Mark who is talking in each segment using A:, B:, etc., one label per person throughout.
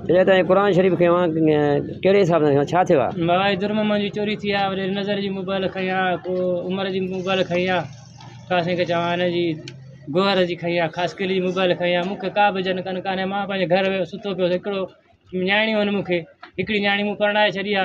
A: اڃا تائين قرآن شريف کي اوهان ڪهڙي حساب سان کيو ڇا ٿيو آ. بابا جي درم منجي چوري
B: ٿي آ وري نظر جي موبائل کڻي آ پو عمر جي موبائل کڻي آ ڪا سائين کي چوان هن جي گوهر جي کڻي آ خاص قلي جي موبائل کڻي آ مون کي ڪا به جن ڪن ڪانهي مان پنهنجي گهر ويو سوتو پيو هڪڙو نياڻيون آهن مون کي هڪڙي نياڻي مون پرڻائي ڇڏي آ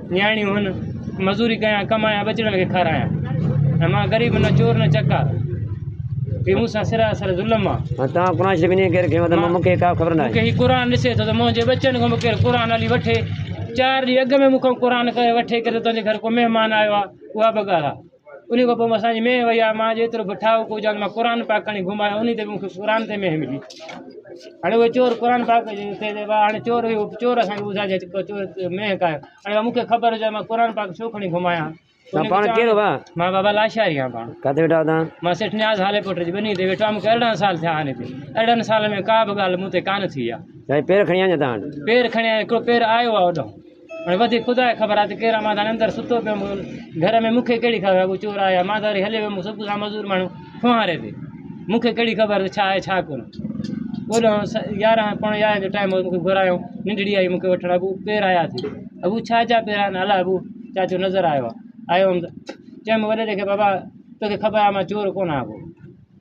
B: نياڻيون هن، مزوري ڪيان، ڪمايان، ٻچڙن کي کارايان. ۽ مان غريب نه چور نه چڪار. هي مون سان سراسر ظلم آ. ۽ توهان قرآن شريف انهيء ڪير
A: کنيو اٿم ۽ مون کي ڪا خبر ناهي. مون کي هي قرآن ڏسي ٿو ته
B: منهنجي ٻچن کان به ڪير قرآن هلي وٺي. چار ڏينهن اڳ ۾ مون کان قرآن ڪري وٺي ڪري ته تنهنجي گهر ڪو مهمان آيو آ. اها به ڳالهه آ. انهيء کان پوء اسان جي مينهن وئي آ، مان جيترو به ٺاهو ڪو جان مان قرآن پاڪ کڻي گهم آيو انهي تي به مون کي قرآن تي مينهن ملي. هاڻي اهي چور قرآن پاڪ تي هاڻي چور اهو چور اسان کي ٻڌائي جي چور مينهن ڪا آيو هاڻي مون کي خبر هجي مان قرآن پاڪ ڇو کڻي گهم آيان ها. تون پاڻ ڪير
A: ڀا؟ مان بابا لاشاري آهيان
B: پاڻ. ڪاٿي ويٺا آهيو توهان؟ مان سيٺ
A: نياز هالي
B: پٽ جي ٻني تي ويٺو آهيان مون کي ارڙهن سال ٿيا هاڻي تي ارڙهن سالن ۾ ڪا به ڳالهه مون تي ڪانه ٿي آ. سائين پير کڻي آيا تان وٽ؟
A: پير کڻي آيا هڪڙو
B: پير آيو آ اوڏانهون. هاڻي وڌيڪ خدا کي خبر آهي ته ڪيران مان ڌڻي اندر ستو پيو هوندو گهر ۾ مون کي ڪهڙي خبر ڪو چور آهي يا مان ته وري هليو ويم صبح سان مزور ماڻهو ڦوهاري تي مون کي ڪهڙي خبر ته ڇا آهي ڇا ڪونه اوڏ يارهن پوڻي يارهن جو ٽائيم هو مون کي گهرايو ننڊڙي آئي مون کي وٺڻ اڳو پير آيا ٿي اڳو ڇا جا پير آهن الاء اڳو چاچو نظر آيو آيو هوم ته چيم وڏيري کي بابا توکي خبر آهي مان چور ڪونه آهيان ڪو